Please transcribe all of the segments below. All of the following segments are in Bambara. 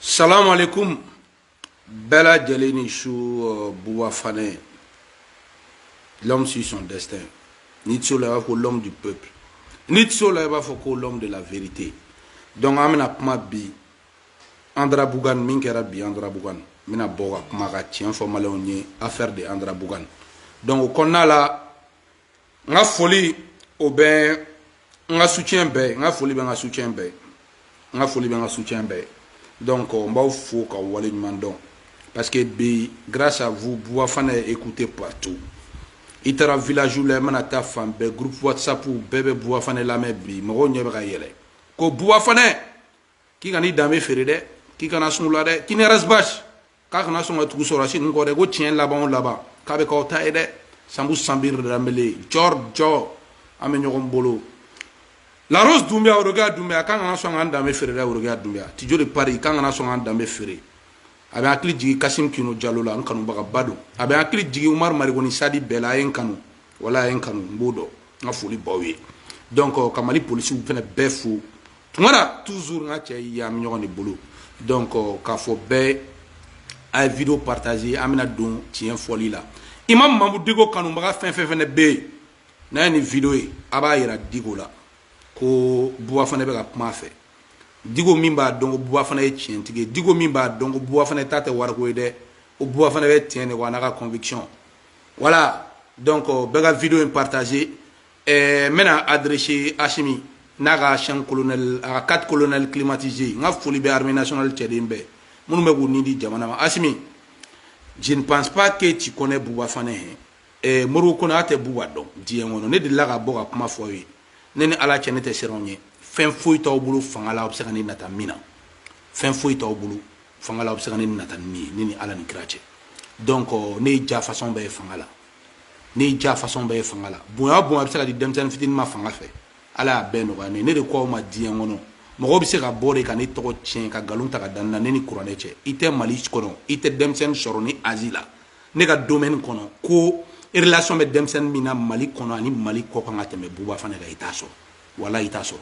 salamu aleykum bɛɛ lajɛlen ni su uh, buba fanɛ l'homme suit son destin n'i tɛ se o la i b'a fɔ ko l'homme du peuple n'i tɛ se o la i b'a fɔ ko l'homme de la vérité donc an bɛna kuma bi Anderamboukane min kɛra bi Anderamboukane n bɛna bɔ ka kuma ka tiɲɛ fɔ maliyɛnw ye affaire de Anderamboukane donc o kɔnɔna la n ka foli o bɛ n ka soutien bɛɛ n ka foli bɛ n ka soutien bɛɛ n ka foli bɛ n ka soutien bɛɛ donc n b'aw fo k'aw wale ɲuman dɔn parce que bi grâce à vous Bouba Fane est écouté partout i taara village la i mana taa fan bɛɛ groupe whatsapp bɛɛ bɛ Bouba Fane lamɛn bi mɔgɔw ɲɛ bɛ ka yɛlɛ ko Bouba Fane k'i kana i danbe feere dɛ k'i kana sun la dɛ k'i ni Ras Bath k'aw kana sɔn ka tugu sɔrɔdasi ninnu kɔ dɛ ko tiɲɛ laban o laban k'a bɛ k'aw ta ye dɛ sanbu sanbiri danbele jɔrji an bɛ ɲɔgɔn bolo laros dunbiya orokiya dunbiya k'an kana sɔn k'an danbe feere dɛ orokiya dunbiya tijo de Paris k'an kana sɔn k'an danbe feere a bɛ hakili jigin kasim kino jalo la n kanubagaba don a bɛ hakili jigin umar mariko ni SADI bɛɛ la a ye n kanu wala a ye n kanu n b'o dɔn n ka foli b'aw ye donc ka mali polisiw fɛnɛ bɛɛ fo tuma na toujours n ka cɛ ye an bɛ ɲɔgɔn de bolo donc k'a fɔ bɛɛ a ye video partage an bɛna don tiɲɛ fɔli la imam mamudu diko kanubaga fɛn fɛn fɛnɛ bɛ yen n'a ye nin video ye a b'a yira diko la ko buba fanɛ bɛ ka kuma a fɛ diko même b'a dɔn ko buba fanɛ ye tiɲɛtigi ye diko même b'a dɔn ko buba fanɛ ta tɛ wariko ye dɛ ko buba fanɛ bɛ tiɲɛ de kɔ a n'a ka conviction voilà donc bɛɛ ka video in partage ɛɛ n bɛna adresser Asimi n'a ka cinq colonels a ka quatre colonels climatisés n ka foli bɛ armée nationale cɛden bɛɛ minnu bɛ k'u ni di jamana ma Asimi je ne pense pas que tu connais Bouba Fane hein ɛɛ eh, Modibo Kone tɛ Bouba dɔn diɲɛ kɔnɔ ne delila ka bɔ ka kuma fɔ aw ye ne ni Ala cɛ ne tɛ siran aw ɲɛ fɛn foyi t'aw bolo fanga la aw bɛ se ka ne nata min na fɛn foyi t'aw bolo fanga la aw bɛ se ka ne nata ni min ye ne ni Ala ni kira cɛ donc euh, ne ye diya façon bɛɛ ye fanga la n ye diya fasɔn bɛɛ ye fanga la bonya o bonya bɛ se ka di denmisɛnnin fitinin ma fanga fɛ ala y'a bɛɛ nɔgɔya ne ye ne de k'aw ma diɲɛ kɔnɔ mɔgɔ bɛ se ka bɔ de ka ne tɔgɔ tiɲɛ ka nkalon ta ka da n na ne ni kuranɛ cɛ i tɛ mali kɔnɔ i tɛ denmisɛnnin sɔrɔ ne âge la ne ka domɛni kɔnɔ ko relation bɛ denmisɛnnin min na mali kɔnɔ ani mali kɔkan ka tɛmɛ buba fanɛ kan i t'a sɔrɔ wala i t'a sɔrɔ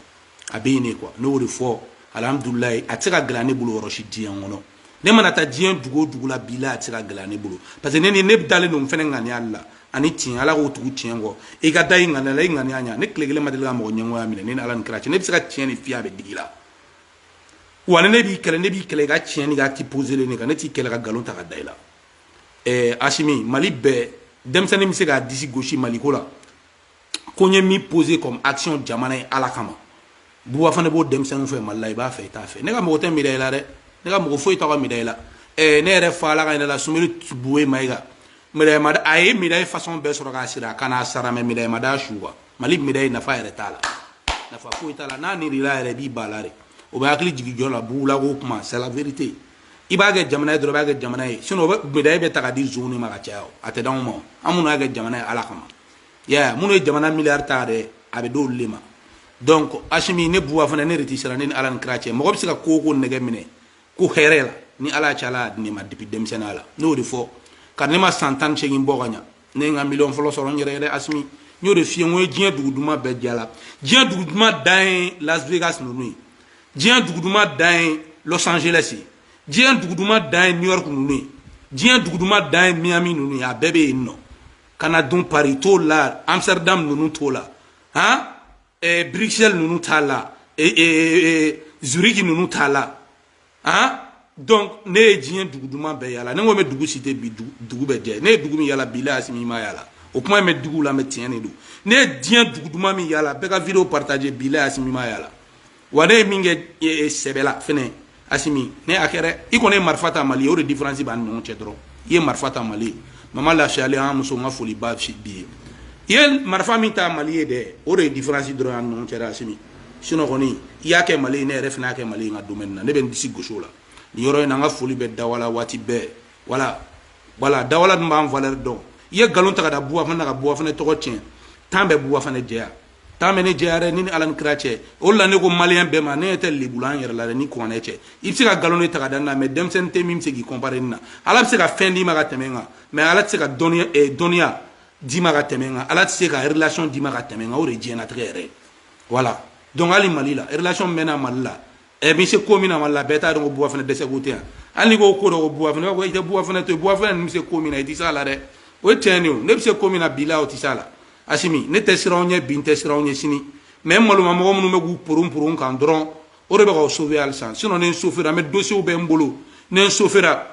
a bɛ yen de quoi ne y'o de fɔ alihamudulayi a tɛ se ka gɛlɛya ne bolo yɔrɔ si diɲɛ kɔnɔ ne mana taa diɲɛ dugu o dugu la bi la a tɛ se ka gɛlɛya ne bolo parce que ne ni ne dalen don n fɛnɛ ŋaniya la ani tiɲɛ ala ko tugu tiɲɛ kɔ i ka da i ŋaniya la i ŋaniya ɲa ne tile kelen ma deli ka mɔgɔ ɲɛngoya minɛ ne ni ala ni kira cɛ ne bɛ se ka tiɲɛ nin f'i ye a bɛ digi i la wa ni ne b'i kɛlɛ ne b'i kɛlɛ i ka tiɲɛni i ka acte poselen de kan ne t'i kɛlɛ ka nkalon ta ka da i la ɛɛ asimi mali bɛɛ denmisɛnnin bɛ se k'a disi gosi maliko la ko n ye min pose comme action jamana ye ala kama buba fane b'o denmisɛnninw fɛ mali la i b'a fɛ i t'a fɛ ne ka mago tɛ midayi la dɛ ne ka mago foyi t'a ka midayi la ne yɛrɛ fa ala ka hinɛ a la sumeyilu bubɛyi mayiga midayi ma da a ye midayi fasɔn bɛɛ sɔrɔ k'a siri a kan na a sara mɛ midayi ma da su wa mali midayi nafa yɛrɛ t'a la nafa foyi t'a la n'a nirila yɛrɛ b'i ba la de o bɛ hakili jigi jɔ la buwula ko kuma c'est la vérité i b'a kɛ jamana ye dɔrɔn i b'a kɛ jamana ye sinon o bɛ midayi bɛ ta ka di zonw de ma ka caya a tɛ d'anw ma an minnu y'a kɛ jamana ye ala kama ya minnu ye jamana miliyari ta dɛ a bɛ d'olu de ma donc asimi ne buwa fane ne de tɛ siran ne ni ala ni kira cɛ mɔgɔ bɛ se ka ko o ko nege minɛ ko hɛrɛ la ni ala cɛ ala y'a di ne ma depuis denmisɛnninya la ne y'o de fɔ ko ne ma san tan ni seegin bɔ ka ɲa ne ye n ka miliyɔn fɔlɔ sɔrɔ n yɛrɛ yɛrɛ asimi n y'o de f'i ye n ko n ye diɲɛ dugu duman bɛɛ de yala diɲɛ dugu duman dan ye las vegas ninnu ye diɲɛ dugu duman dan ye los angeles ye diɲɛ dugu duman dan ye new york ninnu ye diɲɛ dugu duman dan ye miami ninnu ye a bɛɛ bɛ yen nɔ ka na dun pari t'o la amsterdam ninnu t'o la han eh, bruxelles ninnu t'a la eh, eh, zurich ninnu t'a la han donc ne ye diɲɛ dugu duman bɛɛ yala ne ko n bɛ dugu citer bi dugu bɛɛ jɛ ne ye dugu min yala bi la asimi ma yala o kuma in bɛ digi u la mɛ tiɲɛ de don ne ye diɲɛ dugu duman min yala bɛɛ ka video partage bi la asimi ma yala wa ne ye min kɛ e, e, sɛbɛla fɛnɛ asimi ne a kɛra i kɔni ye marifa ta mali o de diferansi b'an ni ɲɔgɔn cɛ dɔrɔn i ye marifa ta mali mama lafiyalen an muso n ka foli ba b'i ye i ye marifa min ta mali ye dɛ o de ye diferansi dɔrɔn an ni ɲɔgɔn cɛ asimi sinon kɔni i y'a kɛ mali ne yɛrɛ fana y'a kɛ mali n ka domɛni na ne bɛ n disi gosi o la nin yɔrɔ in na n ka foli bɛ dawala wati b voilà voilà dawala dun b'an valɛri dɔn i ye nkalon ta ka da buwa fane na ka buwa fane tɔgɔ tiɲɛ tan bɛ buwa fane jɛya tan bɛ ne jɛya dɛ ne ni ala ni kira cɛ o de la ne ko maliyɛn bɛɛ ma ne ɲɛ tɛ lebu la n yɛrɛ la dɛ ni kuranɛ cɛ i bɛ se ka nkalon de ta ka da ne na mɛ denmisɛnnin tɛ min bɛ se k'i kɔnpare ne na ala bɛ se ka fɛn d'i ma ka tɛmɛ n kan mɛ ala tɛ se ka dɔnniya eh, dɔnniya d'i ma ka tɛmɛ n kan ala tɛ se ka relation d'i ma ka tɛmɛ n kan o de ye diɲɛnatigɛ yɛrɛ ye voilà donc hali mali la relation min bɛ n na mali la ɛ bɛ se ko min na wala la bɛɛ t'a dɔn ko buwa fane dɛsɛ ko tɛ yan hali ko ko dɔ ko buwa fane ko i tɛ buwa fane to buwa fane ninnu bɛ se ko min na i tɛ se a la dɛ o ye tiɲɛ de ye ne bɛ se ko min na bi la o tɛ se a la asimi ne tɛ siran aw ɲɛ bi n tɛ siran aw ɲɛ sini mɛ n maloma mɔgɔ minnu bɛ k'u poron poron n kan dɔrɔn o de bɛ k'aw sauver halisa sinon ni n sofera n bɛ dossiers bɛ n bolo ni n sofera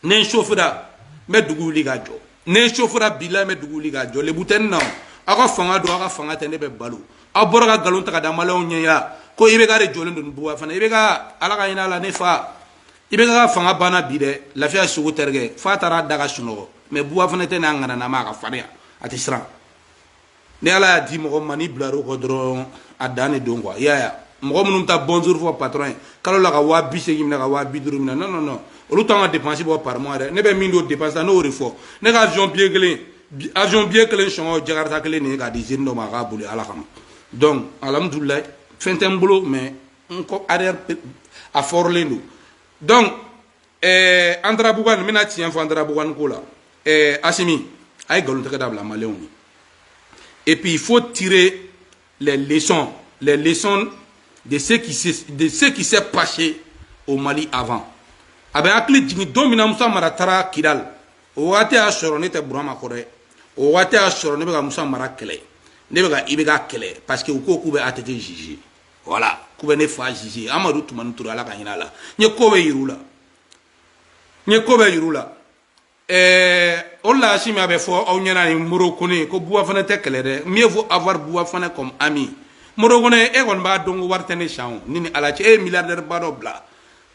ni n sofira n bɛ dugu wuli ka jɔ ni n sofira bi la n bɛ dugu wuli ka jɔ lebu tɛ n na aw ka fanga don aw ka fanga tɛ ne bɛ balo aw bɔra ka nkalon ta ka da maliyɛnw ɲɛ yan ko ibeka de jɔlen don buwa fane ibeka ala ka hin'a la ne fa ibeka fanga banna bi dɛ lafiya sogo tɛrikɛ f'a taara da ka sunɔgɔ mɛ buwa fane tɛ n'a ŋananama a ka farinya a tɛ siran ni ala y'a di mɔgɔ ma n'i bilar'o kɔ dɔrɔn a dan de don quoi i y'a ye mɔgɔ minnu ta bonjour fɔ patron ye kalo la ka waa bi seegin minɛ ka waa bi duuru minɛ non non non olu t'an ka dépense bɔ par mois dɛ ne bɛ min don dépense la ne y'o de fɔ ne ka avion billet kelen avion billet kelen sɔngɔ jakarta kelen de ye k'a di jeune dɔ ma a k'a boli ala kama donc alhamdulilayi fɛn tɛ n bolo mais n kɔ arrière a fɔrɔlen don donc ɛɛ anderabukan n bɛna tiɲɛ fɔ anderabukan ko la ɛɛ asimi a ye nkalon tigɛ dabila maliyɛnw ye et puis il faut tirer les leçons les leçons de ce qui s'est passé au Mali avant a bɛ hakili jigin don min na Musa Mara taara Kidal o waati y'a sɔrɔ ne tɛ Burama kɔrɔ dɛ o waati y'a sɔrɔ ne bɛ ka Musa Mara kɛlɛ ne bɛ ka IBK kɛlɛ parce que u ko k'u bɛ ATT juger voilà k'u bɛ ne fa juger amadu tumani ture ala ka hinɛ a la n ye ko bɛɛ yir'u la n ye ko bɛɛ yir'u la ɛɛ o de la asimi a bɛ fɔ aw ɲɛna ni moro kone ko buwa fana tɛ kɛlɛ dɛ mieux vaut avoir buwa fana comme ami moro kone e kɔni b'a dɔn ko wari tɛ ne san ne ni ala cɛ e ye milliardaire ba dɔ bila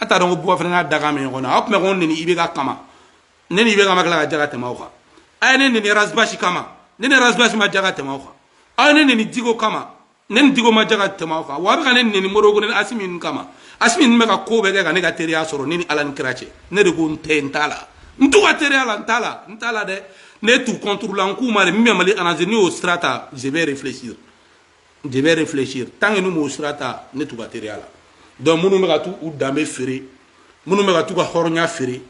a t'a dɔn ko buwa fana n'a dakan bɛ ɲɔgɔn na aw tun bɛ ka n neni IBK kama ne ni IBK ma tila ka ja ka tɛmɛ aw kan a ye ne neni razibasi kama ne ni razibasi ma ja ka tɛmɛ aw kan aw ye ne neni diko kama ne ni diko ma ja ka tɛmɛ aw kan wa a bɛ ka ne neni moro kone ni asimi ninnu kama asimi ninnu bɛ ka ko bɛɛ kɛ ka ne ka teriya sɔrɔ ne ni ala ni kira cɛ ne de ko n tɛ n t'a la n t'u ka teriya la n t'a la n t'a la dɛ ne t'u contre la n k'u ma de min bɛ mali arranger n'u y'o sira ta je vais réfléchir je vais réfléchir tant que n'u m'o sira ta ne t'u ka teriya la donc minnu bɛ ka t'u u danbe feere minnu bɛ ka t'u ka hɔrɔnya feere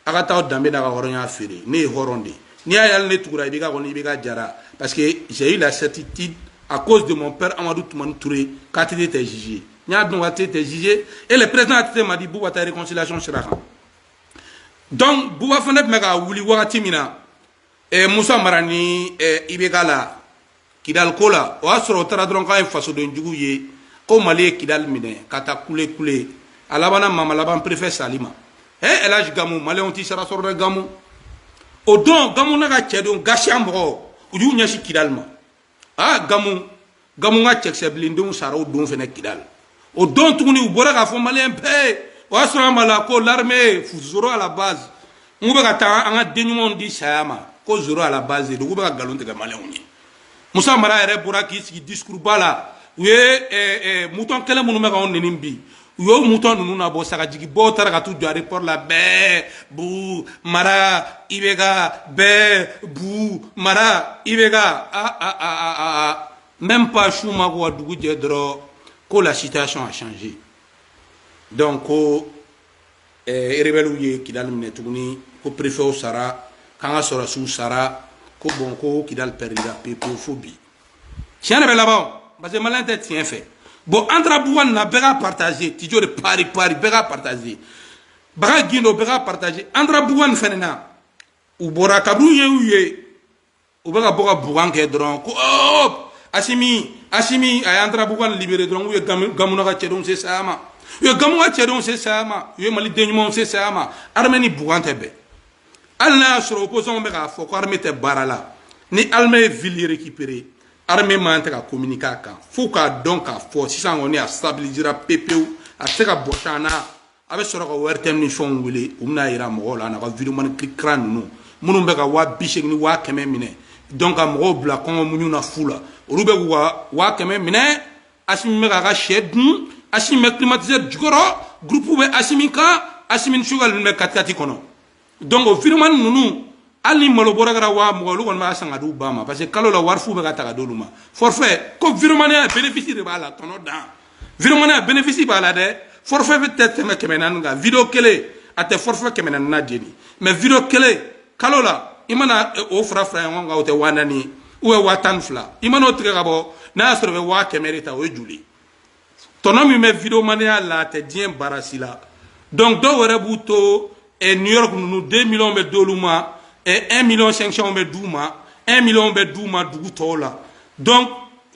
a ka t'a danbe n'a ka hɔrɔnya feere ne ye hɔrɔn de ye n'i y'a ye hali ne tugura IBK kɔ ni IBK jara parce que j'ai eu la certitude à cause de mon père Amadou Toumani Touré k'ATT était jugé n y'a dɔn k'ATT était jugé et le président ATT m'a dit Bouba taa réconciliation sira kan donc Bouba fana tun bɛ ka wuli wagati min na ɛ musa mara ni ɛ IBK la kidali ko la o y'a sɔrɔ o taara dɔrɔn k'a ye fasoden jugu ye ko mali ye kidali minɛ ka taa kule kule a labanna mama laban perefɛ sali ma ɛ elaji gamu maliyɛnw t'i sara sɔrɔ dɛ gamu o don gamu n'a ka cɛdenw gasiya mɔgɔw u y'u ɲɛsin kidali ma aa gamu gamu ka cɛkisɛ blindéw sara o don fana kidali o don tuguni u bɔra k'a fɔ maliyɛn bɛɛ o y'a sɔrɔ an b'a la ko l'armée zoro à la base n k'u bɛ ka taa an ka den ɲumanw di saya ma ko zoro à la base de don k'u bɛ ka nkalon tigɛ maliyɛnw ye musa mara yɛrɛ bɔra k'i sigi disikuruba la u ye mouton kelen minnu bɛ k'anw neni bi u y'o mouton ninnu na bɔ sagajigi bɔ taara ka taa u jɔ aéroport la bɛɛ bu mara i bɛ ka bɛɛ bu mara i bɛ ka aa même pas su ma ko wa dugu jɛ dɔrɔn ko la situation a changé donc ko rebɛliw ye kidali minɛ tuguni ko perefew sara k'an ka sɔrɔsiw sara ko bon ko kidali pɛrɛdira pepewu fo bi tiɲɛ de bɛ laban o parce que maliyɛn tɛ tiɲɛ fɛ bon Anderamboukane na bɛɛ k'a partager tijo de Paris bɛɛ k'a partager baga gindo bɛɛ k'a partager Anderamboukane fɛnɛ na u bɔra kabini u ye u ye u bɛ ka bɔ ka boucan kɛ dɔrɔn ko oh asimi asimi a ye Anderamboukane libérer dɔrɔn k'u ye gamu n'a ka cɛdenw se saya ma u ye gamu ka cɛdenw se saya ma u ye mali den ɲumanw se saya ma armée ni boucan tɛ bɛn hali n'a y'a sɔrɔ opposant bɛ k'a fɔ ko armée tɛ baara la ni armée ye ville récupérer armée man tɛ ka communiquer a kan fo k'a dɔn k'a fɔ sisan kɔni a stabilisera pepewu a tɛ se ka bɔsi an na a bɛ sɔrɔ ka ORTM ni fɛnw wele u bɛna yira mɔgɔw la nka videomani kira ninnu minnu bɛ ka waa bi seegin ni waa kɛmɛ minɛ donc ka mɔgɔw bila kɔngɔ muɲu na fu la olu bɛ k'u ka waa kɛmɛ minɛ Asimi bɛ k'a ka sɛ dun Asimi bɛ climatiseur jukɔrɔ groupe bɛ Asimi kan Asimi ni Choguel ninnu bɛ katikati kɔnɔ donc o videomani ninnu hali ni malo bɔrɛ kɛra waa mugan olu kɔni b'a san ka di u ba ma parce que kalo la wari fu bɛ ka ta ka di olu ma forfait ko videomaniya bénéfice de b'a la tɔnɔ dan videomaniya bénéfice b'a la dɛ forfait bɛɛ tɛ tɛmɛ kɛmɛ naani kan video kelen a tɛ forfait kɛmɛ naani na jeni mais video kelen kalo la i mana eh, o fara fara ɲɔgɔn kan o tɛ waa naani ye ou bien waa tan ni fila i mana o tigɛ ka bɔ n'a y'a sɔrɔ i bɛ waa kɛmɛ de ta o ye joli tɔnɔ min bɛ videomaniya la a tɛ diɲɛ baara si la donc dɔw yɛrɛ b'u to eh, new york ninnu deux millions bɛ d'olu ma eh, un million cinq cents bɛ d'u ma un million bɛ d'u ma dugu tɔw la donc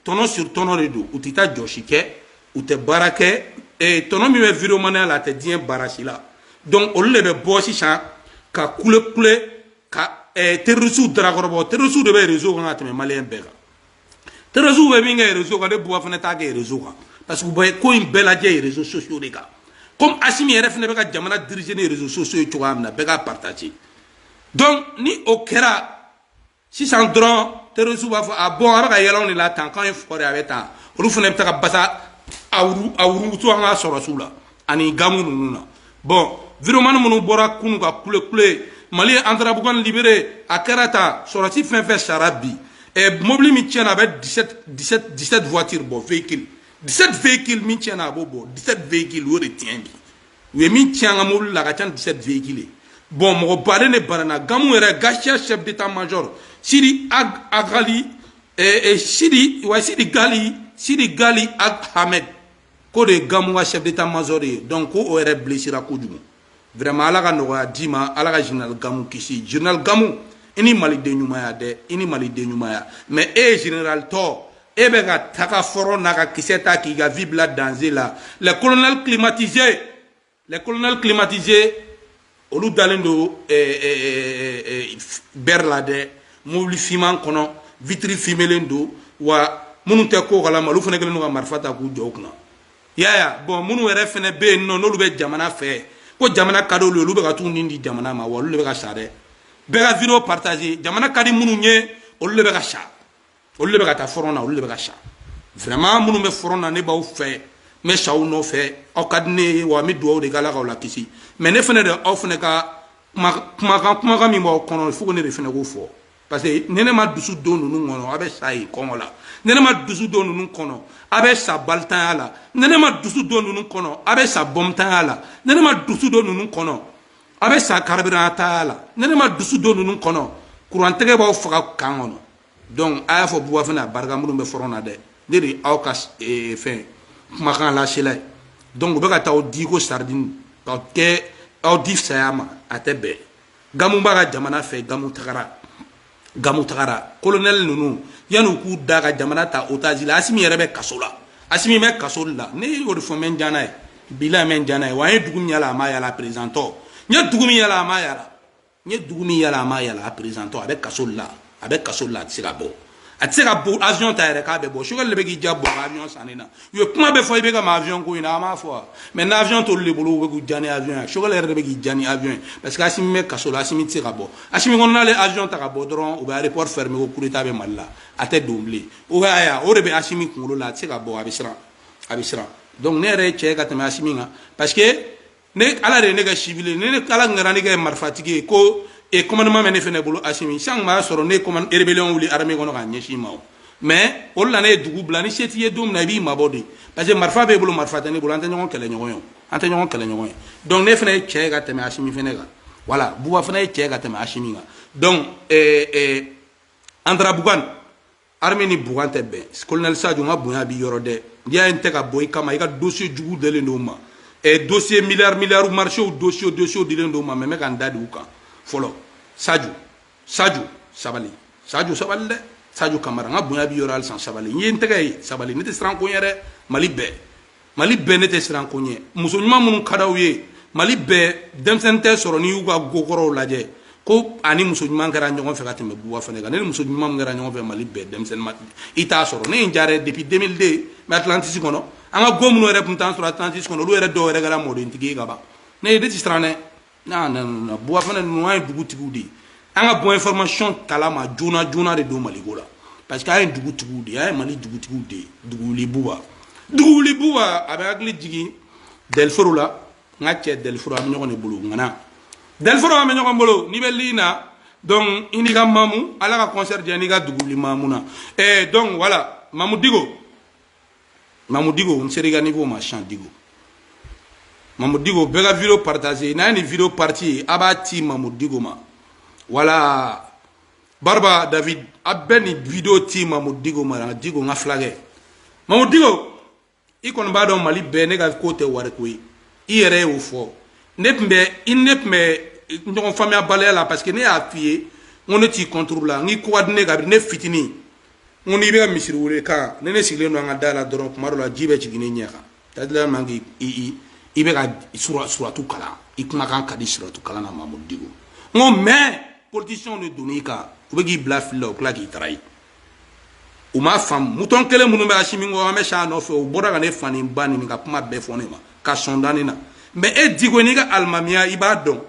tɔnɔ sur tɔnɔ de don u tɛ taa jɔsi kɛ u tɛ baara kɛ eh, tɔnɔ min bɛ videomaniya la a tɛ diɲɛ baara si la donc olu de bɛ bɔ sisan ka kulekule ka eh, terrorisiw darakɔrɔbɔ terrorisiw de bɛ réseau kan ka tɛmɛ maliyɛn bɛɛ kan terrorisiw bɛ min kɛ réseau kan ne buwa fana t'a kɛ réseau kan parce que u bɛ ko in bɛɛ lajɛ ye réseaux sociaux de kan comme asimi yɛrɛ fana bɛ ka jamana diriger ni réseaux sociaux ye cogoya min na bɛɛ k'a partager donc ni o kɛra sisan dɔrɔn terrorisiw b'a fɔ ah bon a bɛ ka yɛlɛ anw de la tan k'an ye fugari a bɛ tan olu fana bɛ taa ka basa a wurutu an ka sɔrɔsiw la ani gamu ninnu na bon videomani minnu bɔra kunu ka kule kule mali Anderamboukane libéré a kɛra ta sɔrɔsi fɛn fɛn sara bi ɛ mobili min tiɲɛna a bɛ 17 17 voiture bɔ véhicule 17 véhicule min tiɲɛna a b'o bɔ 17 véhicule o de tiɲɛ bi u ye min tiɲɛ an ka mobili la a ka ca ni 17 véhicule ye bon mɔgɔ baden de banana gamu yɛrɛ gatia chef d'état major sidi ag ali eh, eh, sidi wa sidi gali sidi gali ag hamed ko o de ye gamu ka chef d'état major ye donc ko o yɛrɛ blessera kojugu vraiment ala ka nɔgɔya d'i ma ala ka général gamu kisi général gamu i ni maliden ɲumanya dɛ i ni maliden ɲumanya mais e ye général tɔ e bɛ ka taga fɔrɔn na ka kisɛ ta k'i ka vie bila danger la les colonels climatisés les colonels climatisés olu dalen don eh, eh, eh, bɛri la dɛ mobili fiman kɔnɔ vitiri fimelen don wa minnu tɛ ko kalama olu fana kɛlen don ka marifa ta k'u jɔ u kunna yaya bon minnu yɛrɛ fana bɛ yen n'olu bɛ jamana fɛ ko jamana ka di olu ye olu bɛ ka t'u ni di jamana ma wa olu de bɛ ka sa dɛ bɛɛ ka vidéo partager jamana ka di minnu ye olu de bɛ ka sa olu de bɛ ka taa fɔrɔn na olu de bɛ ka sa vraiment minnu bɛ fɔrɔn na ne b'aw fɛ n bɛ sa aw nɔfɛ aw ka di ne ye wa n bɛ dugawu de kɛ ala k'aw lakisi mais ne fana de aw fana ka kumakan kumakan min b'aw kɔnɔ fo ne de fana k'o fɔ parce que ni ne ma dusu don ninnu kɔnɔ a bɛ sa yen kɔngɔ la ni ne ma dusu don ninnu kɔnɔ a bɛ sa balitanya la ni ne ma dusu don ninnu kɔnɔ a bɛ sa bɔmtanya la ni ne ma dusu don ninnu kɔnɔ a bɛ sa karibirantanya la ni ne ma dusu don ninnu kɔnɔ kurantɛgɛ b'aw faga camp kɔnɔ donc a y'a fɔ buba fane barika minnu bɛ fɔrɔn na dɛ ne de aw ka eh, fɛn kumakan lasela ye donc u bɛ ka taa aw di ko saridini ka taa aw di saya ma a tɛ bɛn gamu b'a ka jamana fɛ gamu tagara gamu tagara kolonɛli ninnu yanni u k'u da ka jamana ta otazi la asimi yɛrɛ bɛ kaso la asimi bɛ kaso la ne y'o de fɔ n bɛ n ja n'a ye bila n bɛ n ja n'a ye wa n ye dugu min yala a ma yala perezidantɔ n ye dugu min yala a ma yala n ye dugu min yala a ma yala a perezidantɔ a bɛ kaso la a bɛ kaso la a tɛ se ka bɔ a tɛ se ka bɔ avion ta yɛrɛ k'a bɛ bɔ choguel de bɛ k'i ja bɔ ka avion sanni na u ye kuma bɛɛ fɔ i bɛ ka ma avion ko in na an b'a fɔ mais n' avion t'olu de bolo u bɛ k'u ja ni avion ye choguel yɛrɛ de bɛ k'i ja ni avion ye parce que asimi bɛ kaso la asimi tɛ se ka bɔ asimi kɔnɔ n'ale avion ta ka bɔ dɔrɔn u bɛ aéroport fermer ko coup d'état bɛ mali la a tɛ don bilen o y'a ye o de bɛ asimi kunkolo la a tɛ se ka bɔ a bɛ siran a bɛ siran donc ne yɛrɛ ye cɛ ka tɛmɛ asimi kan parce que ne ala de ye ne kɛ civil ye ni ala ngara ne kɛ marifatigi ye ko e commandement bɛ ne fɛnɛ bolo asimi san kun b'a sɔrɔ ne commande rébellion wuli armée kɔnɔ k'a ɲɛsin i ma o mais o de la ne ye dugu bila ni se t'i ye don min na i b'i mabɔ dɛ parce que marifa b'e bolo marifa tɛ ne bolo an tɛ ɲɔgɔn kɛlɛ ɲɔgɔn ye an tɛ ɲɔgɔn kɛlɛ ɲɔgɔn ye donc ne fɛnɛ ye cɛ ye ka tɛmɛ asimi fɛnɛ kan voilà buba fɛnɛ ye cɛ ye ka tɛmɛ asimi kan donc euh, euh, andrabugan armée ni boucan tɛ bɛn colonel sadio n ka bonya b'i yɔrɔ dɛ n'i y'a ye n tɛ ka bɔ i kama i ka dossier jugu dilen don n ma eh, dossier milliard milliard marché dossier dossier dilen don n ma mais n bɛ ka n da de u kan fɔlɔ sadio sadio sabali sadio sabali dɛ sadio kamara n ka bonya b'i yɔrɔ halisa sabali n ye n tɛgɛ ye sabali ne tɛ siran ko ɲɛ dɛ mali bɛɛ mali bɛɛ ne tɛ siran ko ɲɛ muso ɲuman minnu ka d'aw ye mali bɛɛ denmisɛnnin tɛ sɔrɔ n'i y'u ka gokɔrɔw lajɛ ko ani muso ɲuman kɛra ɲɔgɔn fɛ ka tɛmɛ Buba Fane kan ne ni muso ɲuman min kɛra ɲɔgɔn fɛ mali bɛɛ denmisɛnnin ma i t'a sɔrɔ ne ye n diya dɛ depuis 2002 n bɛ atlantisi kɔnɔ an ka go minnu yɛrɛ tun t'an sɔrɔ atlantisi kɔnɔ olu yɛrɛ dɔw yɛrɛ kɛra mɔdentigi ye ka ban ne ye ne tɛ siran dɛ na na na Buba Fane ninnu an ye dugutigiw de ye an ka bɔ information kalama joona joona de don maliko la parce que an ye dugutigiw de ye an ye mali dugutigiw de ye duguli buba duguli buba a bɛ hakili jigin dɛliforo la n ka cɛ dɛliforo an bɛ ɲɔgɔn de bolo ŋana dɛliforo an bɛ ɲɔgɔn bolo n'i bɛ lii na donc i n'i ka mamu ala ka concert diya n'i ka duguli mamu na eh, donc voilà Mamudu Diko Mamudu Diko n sera i ka niveau ma sisan Diko Mamudu Diko bɛɛ ka video partager n'a ye nin video partie ye a b'a ci Mamudu Diko ma voilà barba david a bɛ nin video ci Mamudu Diko ma Diko n ka filakɛ Mamudu Diko i kɔni b'a dɔn mali bɛɛ ne ka ko tɛ wariko ye i yɛrɛ y'o fɔ ne tun bɛ i ne tun bɛ ɲɔgɔn faamuyabaliya la parce que ne y'a f'i ye n ko ne t'i contre la n k'i ko ka di ne ye kabini ne fitinin n ko n'i bɛ misiri wele kan ni ne sigilen don an ka da la dɔrɔn kuma dɔ la ji bɛ jigin ne ɲɛ kan dadila man k'i i i bɛ ka sura suratu kalan i kumakan ka di suratu kalan na Mamudu Diko n ko mais politiciens de donn'i kan u bɛ k'i bila fili la u tila k'i trahir u m'a faamu mouton kelen minnu bɛ Asimi kɔ an bɛ sa nɔfɛ u bɔra ka ne fa ni ba nɛni ka kuma bɛɛ fɔ ne ma ka sɔn da ne na mais e Diko n'i ka alimamiya i b'a dɔn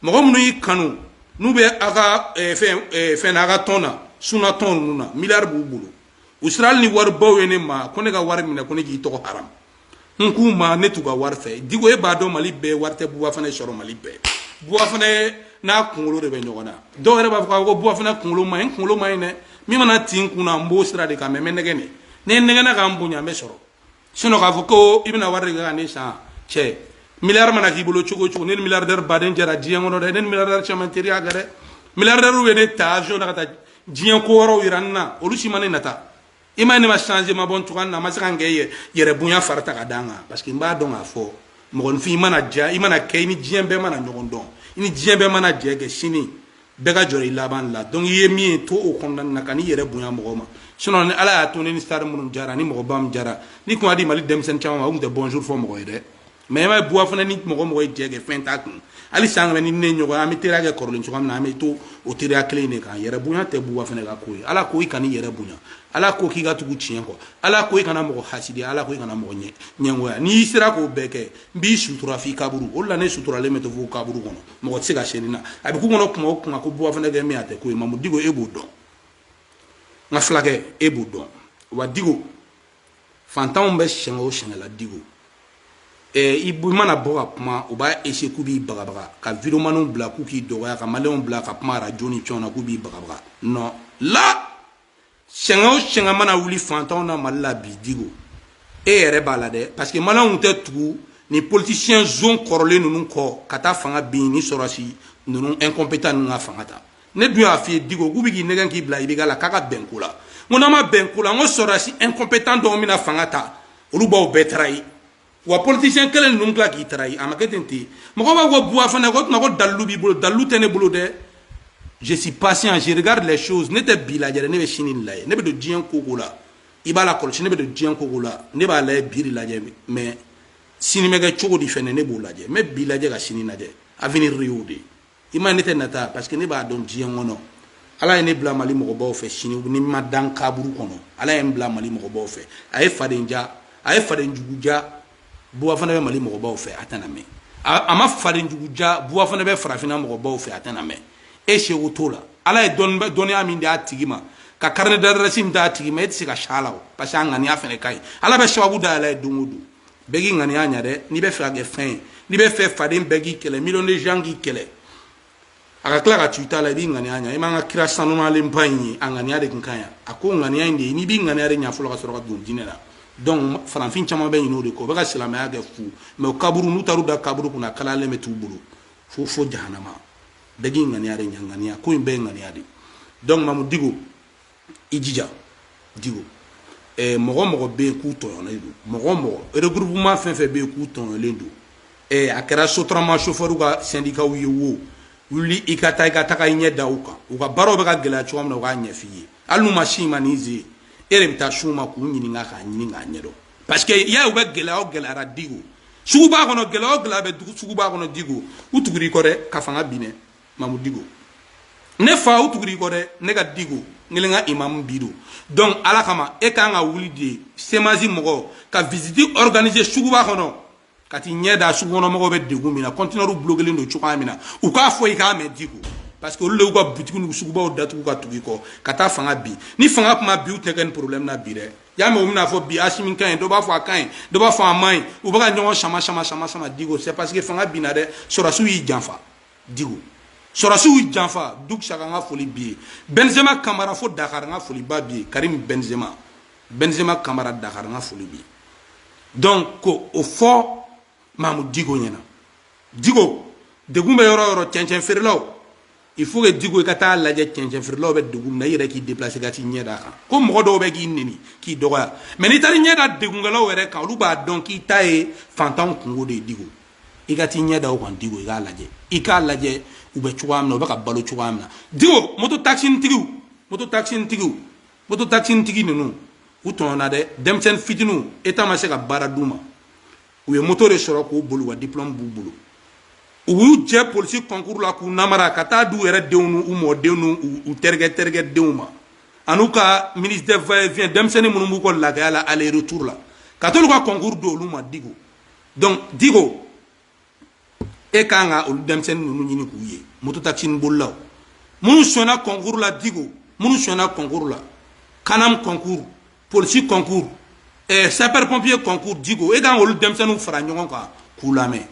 mɔgɔ minnu y'i kanu n'u bɛ aw ka fɛn aw ka tɔn na suna tɔn ninnu na miliyari b'u bolo u sera ni waribaw ye ne ma ko ne ka wari minɛ ko ne k'i tɔgɔ ha n k'u ma ne t'u ka wari fɛ diko e b'a dɔn mali bɛɛ wari tɛ Buba Fane sɔrɔ mali bɛɛ Buba Fane n'a kunkolo de bɛ ɲɔgɔn na dɔw yɛrɛ b'a fɔ a ko Buba Fane kunkolo man ɲi kunkolo man ɲi dɛ min mana ci n kun na n b'o sira de kan mais mais nɛgɛn ne ne nɛgɛn ka n bonya bɛ sɔrɔ sinon k'a fɔ ko i bɛna wari de kɛ ka ne san cɛ miliyari mana k'i bolo cogo o cogo ne ni miliyardɛri baden jɛra diɲɛ kɔnɔ dɛ ne ni miliyardɛri caman teriya kɛ dɛ miliyardɛriw bɛ ne ta avion na ka taa diɲɛ ko wɛrɛw jira n na olu si ma ne nata i ma ye ne ma changer ma bɔ n cogoya na a ma se ka n kɛ yɛrɛbonya fari ta ka da n kan parce que n b'a dɔn k'a fɔ mɔgɔninfin i mana diya i mana kɛ i ni diɲɛ bɛɛ mana ɲɔgɔn dɔn i ni diɲɛ bɛɛ mana jɛ kɛ sini bɛɛ ka jɔrɔ i laban la donc i ye min ye to o kɔnɔna na kan'i yɛrɛ bonya mɔgɔ ma sinon ni ala y'a to ne ni star minnu jɛra ni mɔgɔba min jɛra ni tun y'a di mali denmisɛnnin caman ma u tun tɛ bonjour fɔ mɔgɔ ye dɛ mais i b'a ye Buba Fane ni mɔgɔ mɔgɔ ye jɛ kɛ fɛn t'a kun hali san kana ni ne ɲɔgɔn an bɛ teriya kɛ kɔrɔlen cogoya min na an bɛ to o teriya kelen in de kan yɛrɛbonya tɛ Buba Fane ka ko ye ala ko i kana i yɛrɛ bonya ala ko k'i ka tugu tiɲɛ kɔ ala ko i kana mɔgɔ hasidi ala ko i kana mɔgɔ ɲɛ ɲɛngoya n'i sera k'o bɛɛ kɛ n b'i sutura f'i kaburu o de la ne suturalen bɛ to fo kaburu kɔnɔ mɔgɔ tɛ se ka siyɛnni na a bɛ k'u kɔnɔ kuma o kuma ko buba fane kɛ min a tɛ ko ye mamu diko e b'o dɔn n ka fulakɛ e b'o dɔn wa diko fantanw bɛ sɛgɛn o sɛgɛn la diko ɛɛ i mana bɔ ka kuma u b'a essayer k'u b'i bagabaga ka videomaniw bila k'u k'i dɔgɔya ka maliyɛnw bila ka kuma arajo ni fɛnw na k'u b'i bagabaga non la sɛgɛn o sɛgɛn mana wuli fantanw na mali la bi diko e yɛrɛ b'a la dɛ parce que maliyɛnw tɛ tugu ni politicien zon kɔrɔlen ninnu kɔ ka taa fanga bin ni sɔrɔsi ninnu incompétent ninnu ka fanga ta ne dun y'a f'i ye diko k'u bɛ k'i nɛgɛn k'i bila i bɛ k'a la k'an ka bɛn ko la n ko n'an ma bɛn ko la n ko sɔrɔsi incompétent dɔw bɛna fanga ta olu b'aw bɛɛ trahir wa politicien kelen ninnu tila k'i trahir a ma kɛ ten ten mɔgɔ b'a ko buba fane ko tuma ko dalilu b'i bolo dalilu tɛ ne bolo dɛ je suis patient je regarde les choses ne tɛ bi lajɛ dɛ ne bɛ sini de lajɛ ne bɛ don diɲɛ ko ko la i b'a lakɔlɔsi ne bɛ don diɲɛ ko ko la ne b'a lajɛ bi de lajɛ mais sini bɛ kɛ cogo di fɛnɛ ne b'o lajɛ n bɛ bi lajɛ ka sini lajɛ avenir y'o de ye i ma ne tɛ nata parce que ne b'a dɔn diɲɛ kɔnɔ ala ye ne bila mali mɔgɔbaw fɛ sini ni n ma da kaburu kɔnɔ ala ye n bila mali mɔgɔbaw fɛ a ye faden diya a ye faden jugu diya buba fane bɛ mali mɔgɔbaw fɛ a tɛna mɛn a ma faden jugu diya buba fane bɛ farafinna mɔgɔbaw fɛ a tɛna mɛn e seko t'o la ala ye dɔnniya min d'a tigi ma ka carnet d'adresse min d'a tigi ma e tɛ se ka sa la parce que a ŋaniya fana ka ɲi ala bɛ sababu da a la don o don bɛɛ k'i ŋaniya ɲa dɛ n'i bɛ fɛ ka kɛ fɛn ye n'i bɛ fɛ faden bɛɛ k'i kɛlɛ million de gens k'i kɛlɛ a ka tila ka to i ta la i b'i ŋaniya ɲa i m'an ka kira sanumalenba in ye a ŋaniya de tun ka ɲi a ko ŋaniya in de ye n'i b'i ŋaniya de ɲa fɔlɔ ka sɔrɔ ka don diinɛ la donc farafin caman bɛ ɲinɛ o de kɔ u bɛ ka silamɛya kɛ fu mais o kaburu n'u taar'u da kaburu kunna kalalen bɛ t'u bolo fo fo jahanama bɛɛ k'i ŋaniya de ɲa ŋaniya ko in bɛɛ ye ŋaniya de ye donc mamu diko i jija diko eh, mɔgɔ mɔgɔ bɛ yen k'u tɔɲɔlen don mɔgɔ mɔgɔ regroupement fɛn fɛn bɛ yen k'u tɔɲɔlen don eh, a kɛra sotarama chauffeur ka syndicats ye wo wuli i ka taa i ka taga i ɲɛ da u kan u ka baaraw bɛ ka gɛlɛya cogoya min na u k'a ɲɛf'i ye hali n'u ma s'i ma n'i ze e de bɛ taa s'u ma k'u ɲininka k'a ɲini k'a ɲɛdɔn parce que y'a ye u bɛ gɛlɛya o gɛlɛya ra diko suguba kɔnɔ gɛlɛya o gɛlɛya bɛ suguba kɔnɔ diko u tugur'i kɔ dɛ ka fanga bin mamu diko ne fa u tugur'i kɔ dɛ ne ka diko n kelen ka imamu bido donc ala kama e kan ka wuli de cmas mɔgɔ ka visite organiser suguba kɔnɔ ka t'i ɲɛ da sugu kɔnɔ mɔgɔw bɛ degun min na conteneur bloquelen don cogoya min na u k'a fɔ i k'a mɛn diko parce que olu de y'u ka butigi n'u sugubaw datugu ka tugu i kɔ ka taa fanga bin ni fanga tun ma bin u tɛ kɛ ni problème na bi dɛ y'a mɛ u bɛna fɔ bi asimi ka ɲi dɔ b'a fɔ a ka ɲi dɔ b'a fɔ a man ɲi u bɛ ka ɲɔgɔn sama sama sama sama diko c'est parce que fanga binna dɛ sɔrɔsiw y'i janfa Diko sɔrɔsiw y'i janfa Duk Saka n ka foli b'i ye Benzema Kamara fo Dakar n ka foliba b'i ye Karim Benzema Benzema Kamara Dakar n ka foli b'i ye donc ko o fɔ mamu diko ɲɛna diko degun bɛ yɔrɔ yɔrɔ cɛncɛn feerelaw il faut que diko i ka taa lajɛ cɛncɛn feerelaw bɛ degun na i yɛrɛ k'i déplacer ka t'i ɲɛ d'a kan ko mɔgɔ dɔw bɛ k'i neni k'i dɔgɔya mais n'i taara ɲɛ da degunkɛlaw yɛrɛ kan olu b'a dɔn k'i ta ye fantanw kungo de ye diko i ka t'i ɲɛ da o kan Diko i k'a lajɛ i k'a lajɛ u bɛ cogoya min na u bɛ ka balo cogoya min na Diko moto taxinitigiw moto taxinitigiw moto taxinitigi ninnu u tɔnɔna dɛ denmisɛnnin fitiniw État ma se ka baara d'u ma u ye moto de sɔrɔ k'u boli wa diplôme b'u bolo u y'u jɛ polisi concours la k'u namara ka taa di u yɛrɛ denw n'u mɔdenw n'u terikɛ terikɛ denw ma an'u ka ministre va et vient denmisɛnnin minnu b'u kɔ lagaya la aller retour la ka t'olu ka concours di olu ma Diko donc diko e ka kan ka olu denmisɛnnin ninnu ɲini k'u ye moto takisini bolilaw minnu sɔnna concours la diko minnu sɔnna concours la CANAM concours polisi concours eh, sapeur pompier concours diko e ka kan k'olu denmisɛnninw fara ɲɔgɔn kan k'u lamɛn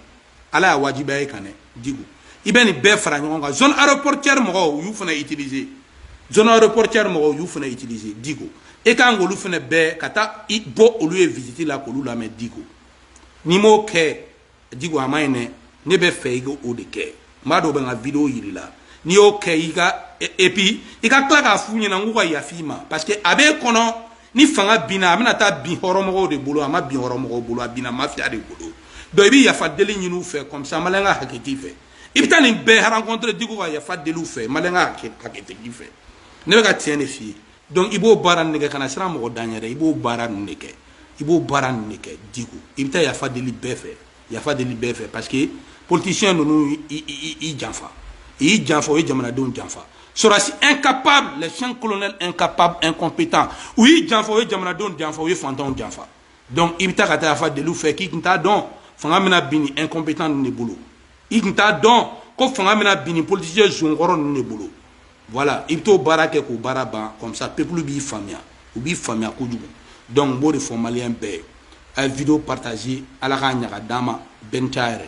ala y'a wajibiya e kan dɛ diko i bɛ nin bɛɛ fara ɲɔgɔn kan zone aéroportière mɔgɔw y'u fana utiliser zone aéroportière mɔgɔw y'u fana utiliser diko e ka kan k'olu fana bɛɛ ka taa i bɔ olu ye visite la k'olu lamɛn diko n'i m'o kɛ Diko a man ɲi dɛ ne b'a fɛ i ka o de kɛ n b'a dɔn o bɛ n ka video yir'i la n'i y'o kɛ i ka et puis i ka tila k'a f'u ɲɛna k'u ka yafa i ma parce que a b'e kɔnɔ ni fanga binna a bɛna taa bin hɔrɔnmɔgɔw de bolo a ma bin hɔrɔnmɔgɔw bolo a binna mafiya de bolo donc i bɛ yafa deli ɲini u fɛ comme ça maliyɛn ka hakɛ t'i fɛ i bɛ taa nin bɛɛ rencontrer Diko ka yafa deli u fɛ maliyɛn ka hakɛ t'i fɛ ne bɛ ka tiɲɛ de f'i ye Donc i b'o baara nin de kɛ kana siran mɔgɔ dan yɛrɛ i b'o baara nin de kɛ i b'o baara nin de kɛ Diko i bɛ taa yafa deli bɛɛ fɛ yafa deli bɛɛ fɛ parce que politicien ninnu y'i janfa u y'i janfa u ye jamanadenw janfa sɔrɔsi incapable les cinq colonels incapables incompétents u y'i janfa u ye jamanadenw janfa u ye fantanw janfa donc i bɛ taa ka taa yafa deli u fɛ k'i tun t'a dɔn fanga bɛna bin incompétents de bolo i tun t'a dɔn ko fanga bɛna bin politicien zonkɔrɔ ninnu de bolo voilà i bɛ t'o baara kɛ k'o baara ban comme ça peuple b'i faamuya u b'i faamuya kojugu donc n b'o de fɔ maliyɛn bɛɛ ye a ye video partager ala k'a ɲaga d'an ma bɛɛ ni c'a yɛrɛ